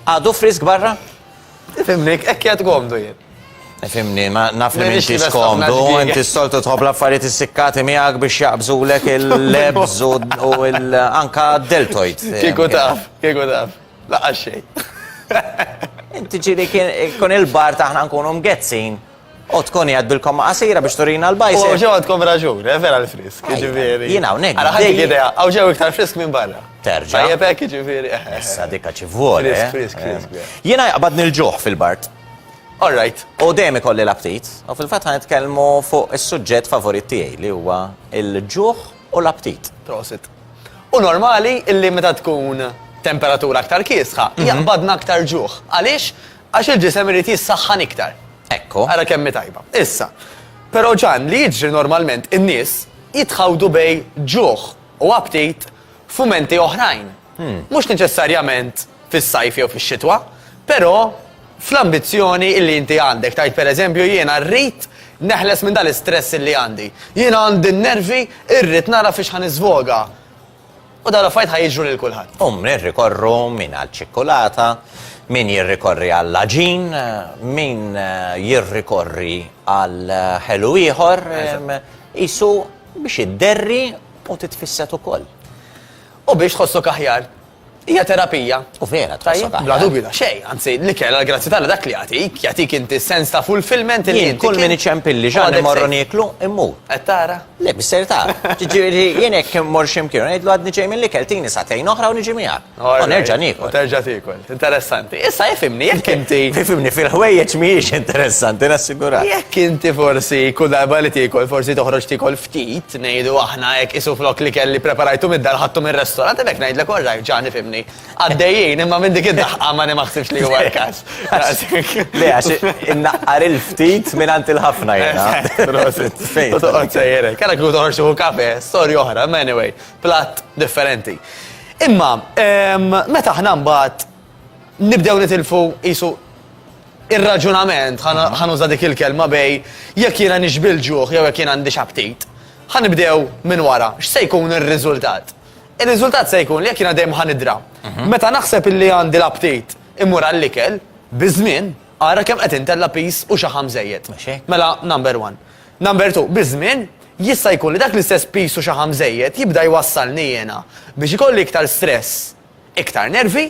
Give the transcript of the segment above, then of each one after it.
Għadu frisk barra? Fimnik, ekk jgħat gomdu jien. Fimni, ma naf li minti skomdu, inti s-soltu tħob l-affarijiet issikkati miegħek biex jaqbżu lek il-lebz u anka deltoid. Kieku taf, kieku taf, laqqa xej. Inti ġili kun il-bar taħna nkunu mgezzin O tkun qiegħed bil-komma qasira biex turina l-bajsel. Hawn ġew għandkom raġun, eh, vera l-frisk, jiġifieri. Jien hawnhekk. Ara ħadd idea, hawn ġew iktar frisk minn barra. Terġa'. Tajjeb hekk jiġifieri. Eh, eh, Issa dikha ċi voli. Frisk, frisk, frisk. Jiena jaqbadni l-ġuħ fil-bart. All right. U dejjem ikolli l-aptit, u fil-fatt ħan nitkellmu fuq is-suġġett favorit tiegħi li huwa l-ġuħ u l-aptit. Prosit. U normali illi meta tkun temperatura aktar kiesħa, mhm. jaqbadna aktar ġuħ. Għaliex? Għax il-ġisem irid jissaħħan iktar. Ekku. Ara kemm hi tajba. Issa, però Ġann, li jiġri normalment in-nies jitħawdu bejn ġuħ u aptit f'mumenti oħrajn. Mhux neċessarjament fis-sajf jew fix-xitwa, però fl-ambizzjoni illi inti għandek, tgħid pereżempju jiena rrid neħles minn dan l-istress illi għandi. Jiena għandi n-nervi, irrid nara fiex ħa niżvoga. U dawn l-affarijiet ħa jiġru lil kulħadd. Hum jirrikorru min għall-ċikkulata, min jirrikorri għall-aġin, min jirrikorri għal ħelu ieħor, qisu biex idderri u titfisset ukoll. U biex tħossok aħjar. Hija terapija. U vera tħossok aħjar. Bla dubju ta' xejn, anzi l-ikel għall-grazzja t'Alla dak li jagħtik, jagħtik inti s-sens ta' fulfillment li inti. Jien kull min iċempilli x'għan immorru nieklu, immur. Qed tara? Le, biss ser tara. Jiġifieri jien jekk immur xi mkien u ngħidlu għadni ġej mill-ikel tini sagħtejn oħra u niġi miegħek. U nerġa' niekol. U terġa' tiekol. Interessanti. Issa ifhimni, jekk inti. Ifhimni, fil-ħwejjeġ mhijiex interessanti, nassigurak. Jekk inti forsi kull darba li tiekol forsi toħroġ tiekol ftit, ngħidu aħna hekk, qisu flok l-ikel li ppreparajtu mid-dar ħadtu mir-restorant, hemmhekk ngħidlek all right, ġagħni f'imni. Għaddejjin, imma minn dik id-daħqa ma nimaħsibx li huwa l-każ. Le, għax innaqqar il-ftit mingħand il-ħafna jiena. Prosit. Fejn? Toqgħod sejjer hekk. Għalhekk kieku toħorġ xi kafe, storja oħra, ma anyway, platt differenti. Imma, ehm, meta aħna mbagħad nibdew nitilfu qisu Ir-raġunament, ħa nuża dik il-kelma, bej jekk jiena nixbi l-ġuħ jew jekk jien għandix aptit. Ħa nibdew minn wara, x'se jkun ir-riżultat? Ir-riżultat se jkun li jekk jiena dejjem ħa nidra. Meta naħseb illi għandi l-aptit immur għall-ikel, biż-żmien, ara kemm qed intella' piż u xaħam żejjed. Mela number one. Number two, biż-żmien, jista' jkun li dak l-istess piż u xaħam żejjed jibda jwassalni jiena biex ikolli iktar stress, iktar nervi,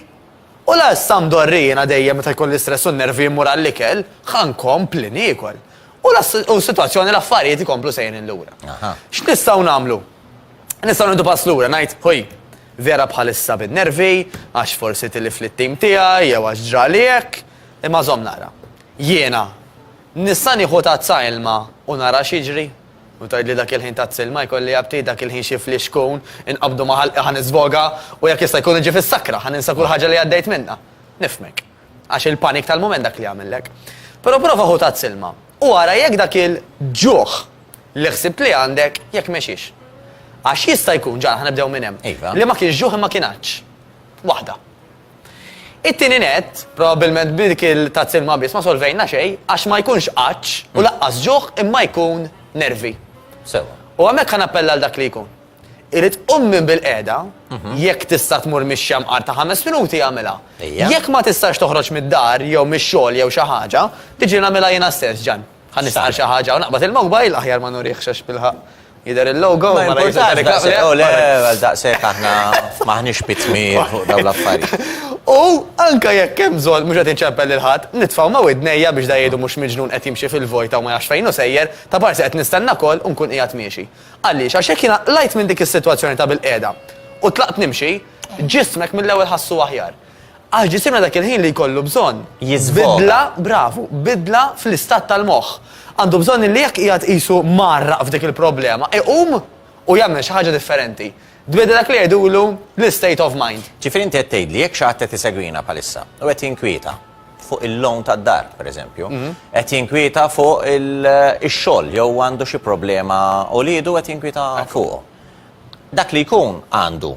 U la issa mdorri jiena dejjem meta jkolli stress u n-nervi mmur għall-ikel, ħa nkompli niekol. U la s-sitwazzjoni, l-affarijiet ikomplu sejrin lura. X'nistgħu nagħmlu? Nistgħu nieħdu pass lura, ngħid, ħuj, vera bħalissa bin-nervi, għax forsi tilift lit-tim tiegħi jew għax ġrali hekk, imma żomm naqra. Jiena nista' nieħu tazza ilma u nara x'jiġri? U tgħidli dak il-ħin tat silma jkolli aptit dak il-ħin xi flix kun, inqabdu ma' ħalqi ħa niżvoga u jekk jista' jkun niġi fis-sakra, ħa ninsa kull ħaġa li għaddejt minnha. Nifhmek. Għax il-panik tal-mument dak li jagħmillek. Però prova ħu tat silma u ara jekk dak il-ġuħ li ħsibt li għandek jekk mexiex. Għax jista' jkun, ġara ħa nibdew minn hemm, li ma kienx ġuħ imma kien għatx. Waħda. It-tieni nett, probabbilment b'dik il-tazz ilma biss ma solvejna xejn għax ma jkunx għatx u laqqas ġuħ imma jkun nervi. Sewwa. U hemmhekk ħa nappella għal dak li jkun. Irid qum minn bilqiegħda, jekk tista' tmur mix-xemqar ta' ħames minuti agħmilha. Jekk ma tistax toħroġ mid-dar jew mix-xogħol jew xi ħaġa, tiġi nagħmilha jiena stess, Ġann. Ħa nistaqar xi ħaġa u naqbad il-mowbajl, aħjar ma nurihx għax bil-ħaqq jidher il-logo u mara jidher ir-reklami. Ma importanx, le, għal daqshekk aħna m'aħniex pitmi fuq dawn l-affarijiet. U anke jekk hemm bżonn, mhux qed inċempel lil ħadd, nitfa' ma' widnejja biex da jgħidu mhux miġnun qed jimxi fil-vojta u ma jafx fejn hu sejjer, ta' parsi qed nistenna koll u nkun qiegħed miexi. Għaliex? Għax jekk jiena qlajt minn dik is-sitwazzjoni ta' bilqiegħda u tlaqt nimxi, ġismek mill-ewwel ħassu aħjar. Għax ġisimna dak il-ħin li jkollu bżonn. Jiżvoga. Bidla, bravu, bidla fl-istat tal-moħħ. Għandu bżonn illi jekk qiegħed qisu mgħarraq f'dik il-problema, iqum u jagħmel xi ħaġa differenti. Tbiddel dak li jgħidulu l-istate of mind. Ġifieri inti qed tgħidli jekk xi ħadd qed isegwina bħalissa u qed jinkwieta fuq il-loan tad-dar, pereżempju, qed jinkwieta fuq ix-xogħol jew għandu xi problema u liedu qed jinkwieta fuqu. Dak li jkun għandu.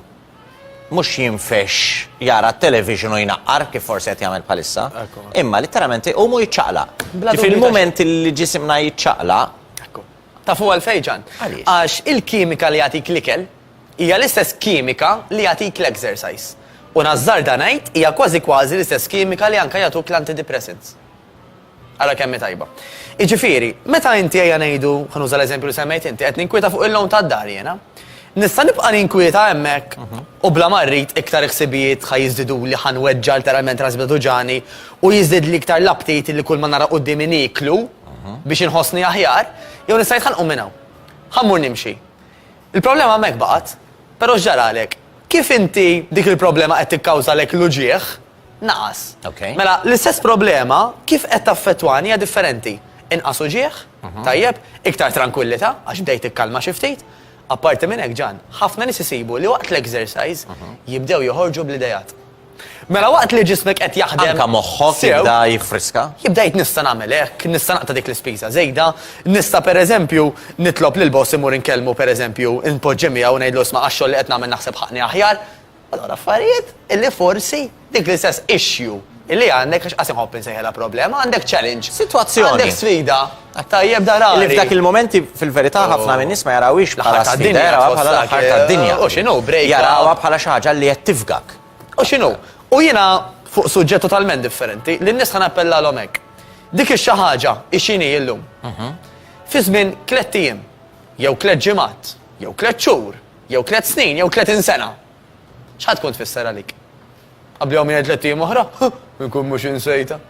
mhux jinfexx jara t-television u jnaqqar kif forsi qed jagħmel bħalissa, imma litteralment iqum u jiċċaqlaq. Kif il-mument li ġisimna jiċċaqlaq. Ekku. Tafu għalfejn Ġan? Għaliex? Għax il-kimika li jagħtik l-ikel hija l-istess kimika li jagħtik l-exercise. U nażżarda ngħid hija kważi kważi l-istess kimika li anke jagħtuk l-antidepressants. Ara kemm hi tajba. Jiġifieri, meta inti ejja ngħidu, ħa nuża l-eżempju li semmejt inti, qed ninkwieta fuq il-loan tad-dar jiena. Nista' nibqa' ninkwieta hemmhekk u bla ma rrid iktar il-ħsibijiet ħa jiżdiduli, ħa nweġġa' lteralment rasi bla tuġani u jiżdidli iktar l-aptit li kulma nara quddiemi nieklu biex inħossni aħjar, jew nista' ngħid ħa nqum minn hawn. Ħa mmur nimxi. Il-problema hemmhekk baqgħet, però x'ġaralek? Kif inti dik il-problema qed tikkawżalek l-uġigħ, naqas. Mela, l-istess problema kif qed taffettwani hija differenti. Inqas uġigħ, mhm. tajjeb, iktar trankwillità għax bdejt tikkalma xi ftit. Apparti minn hekk ġan, ħafna nies isibu li waqt l-exercise mhm. jibdew joħorġu bl-idejat. Mela waqt li ġismek qed jaħdem. Anka moħħok jibda jifriska? Jibda jitnista nagħmel hekk, nista' naqta' dik l-ispiża żejda, nista' pereżempju nitlob lil boss imur inkellmu pereżempju inpoġġi miegħu ngħidlu sma' għax-xogħol li qed nagħmel naħseb ħaqni aħjar. Allura affarijiet illi forsi dik l-istess issue illi għandek, għax qatt inħobb insejħilha problema, għandek challenge. Sitwazzjoni. Għandek sfida. Għat-tajjeb dar għari. Illi f'dak il-momenti fil-verità ħafna min-nies ma jarawhiex bħala sfida, jarawha bħala l-aħħar tad-dinja. U x'inhu break. Jarawha bħala xi ħaġa li qed tifgak. U x'inhu. U jiena fuq suġġett totalment differenti li n-nies ħa nappellalhom hekk. Dik ix-xi ħaġa ixini illum. Fi żmien tliet ijiem, jew tliet ġimgħat, jew tliet xhur, Jew tliet snin, jew tletin sena. X'ħa tkun tfisser għalik? Qablihom jgħid tliet ijiem oħra? Inkun mhux insejta.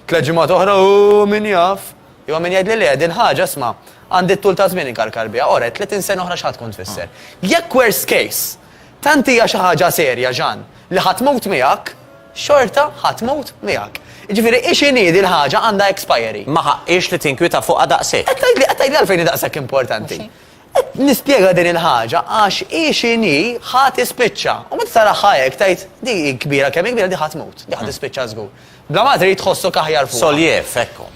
Tliet ġimgħat oħra u min jaf. Jew min jgħid li le din ħaġa sma' għandi t-tul ta' żmien inkarkar biha. Ora, tletin sena oħra x'ħa tkun tfisser. Jekk worst case, tant hija xi ħaġa serja ġan li ħa tmut miegħek, xorta ħa tmut miegħek. Ġifieri ix inhi din ħaġa għandha expiry. Ma ħaqqiex li tinkwieta fuqha daqshekk. Qed tgħidli qed tgħidli għalfejn hi daqshekk importanti. Qed nispjega din il-ħaġa għax hi x'inhi ħa tispiċċa. U meta taraha hekk tgħid di hi kbira kemm hi kbira di ħa tmut, di ħa tispiċċa żgur. Bla ma trid tħossok aħjar fuqha. Soljef, ekku.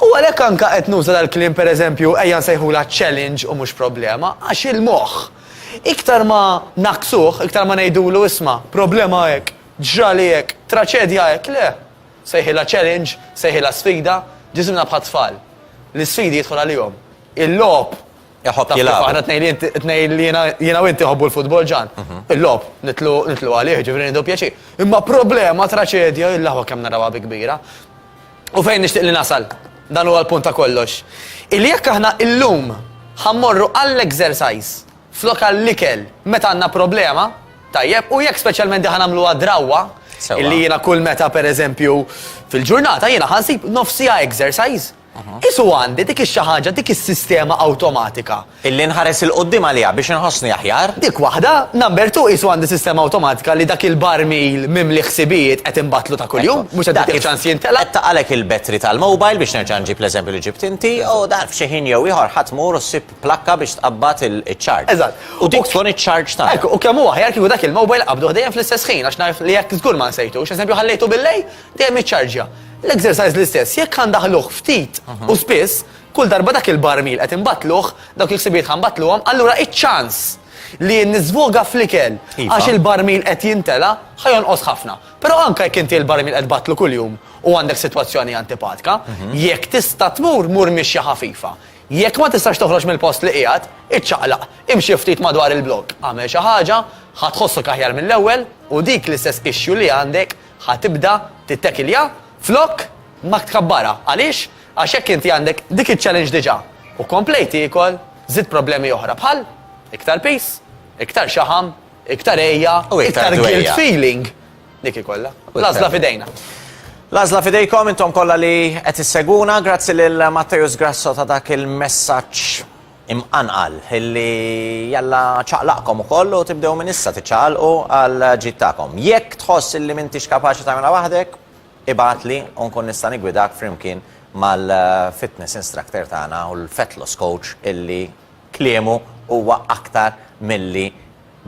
U għalhekk anke qed nuża dal-kliem pereżempju ejja nsejħulha challenge u mhux problema, għax il-moħħ iktar ma naqqsuh, iktar ma ngħidulu isma' problema hekk, ġrali hekk, traċedja hekk, le. Sejħilha challenge, sejħilha sfida, ġisimna bħat-tfal. L-isfidi jidħol għalihom. Il-logħob. Iħobb jilgħab. Taf kif aħna t-tnejn li int, t-tnejn li jiena, jiena u int iħobbu l-futbol Ġan. Il-logħob nidħlu, nidħlu għalih, jiġifieri nieħdu pjaċir. Imma problema, traċedja, illahwa kemm narawha bi kbira. U fejn nixtieq li nasal, dan huwa l-punt ta' kollox, illi jekk aħna illum ħa mmorru għall-exercise flok għall-ikel meta għandna problema, tajjeb, u jekk speċjalment din ħa nagħmluha drawwa, Sewwa. illi jiena kull meta pereżempju fil-ġurnata jiena ħa nsib nofs siegħa exercise. Is u għandi dik ix-xi ħaġa, dik is-sistema awtomatika. Illi nħares 'il quddiem għaliha biex inħossni aħjar. Dik waħda, number two, qisu għandi sistema awtomatika li dak il-barmil mimli ħsibijiet qed inbattlu ta' kuljum, mhux qed nagħtih ċans jimtela. Qed taqgħalek il-battery tal-mobile biex nerġa' nġib l-eżempju li ġibt inti, u dan f'xi ħin jew ieħor ħa tmur u ssib plakka biex tqabbad il-charge. Eżatt. U dik tkun iċ-charge tagħna. Hekk, u kemm hu aħjar kieku dak il-mobile qabduh dejjem fl-istess ħin għax naf li hekk żgur ma nsejtux. Eżempju ħallejtu bil-lejl, Dejjem iċċarġja. L-exercise l-istess, jekk ħa ndaħħluh ftit u spiss, kull darba dak il-barmil qed inbattluh, dawk il-ħsibijiet ħa nbattluhom, allura iċ-ċans li niżvoga fl-ikel Iva. għax il-barmil qed jimtela ħa jonqos ħafna. Però anke jekk inti l-barmil qed tbattlu kuljum u għandek sitwazzjoni antipatika, jekk tista' tmur, mur mixja ħafifa. Jekk ma tistax toħroġ mill-post li qiegħed, iċċaqlaq, imxi ftit madwar il-blokk, agħmel xi ħaġa, ħa tħossok aħjar mill-ewwel u dik l-istess issue li għandek Ħa tibda tittekilja flok ma tkabbarha. Għaliex? Għax jekk inti għandek dik iċ-challenge diġà u komplejt tiekol, żidt problemi oħra bħal, iktar piż, iktar xaħam, iktar għejja, iktar guilt feeling. Dik hi kollha. L-għażla f'idejna. L-għażla f'idejkom intom kollha li qed issegwuna, grazzi lil Matteus Grasso ta' dak il-messaġġ Imqanqal, illi Alla ċaqlaqkom ukoll u tibdew minn issa tiċċaqalqu għall-ġid tagħkom. Jekk tħoss illi m'intix kapaċi tagħmilha waħdek, ibgħatli u nkun nista' niggwidak flimkien mal-fitness instructor tagħna u l-fat loss coach illi kliemu huwa aktar milli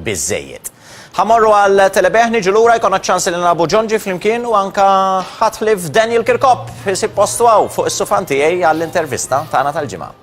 biżżejjed. Ħa mmorru għal telebih, niġu lura jkollna ċ-ċans illi nilagħbu Ġonġi flimkien u anke ħadd ħlief Daniel Kirkop isib postu hawn fuq is-sufan tiegħi għall-intervista tagħna tal-ġimgħa.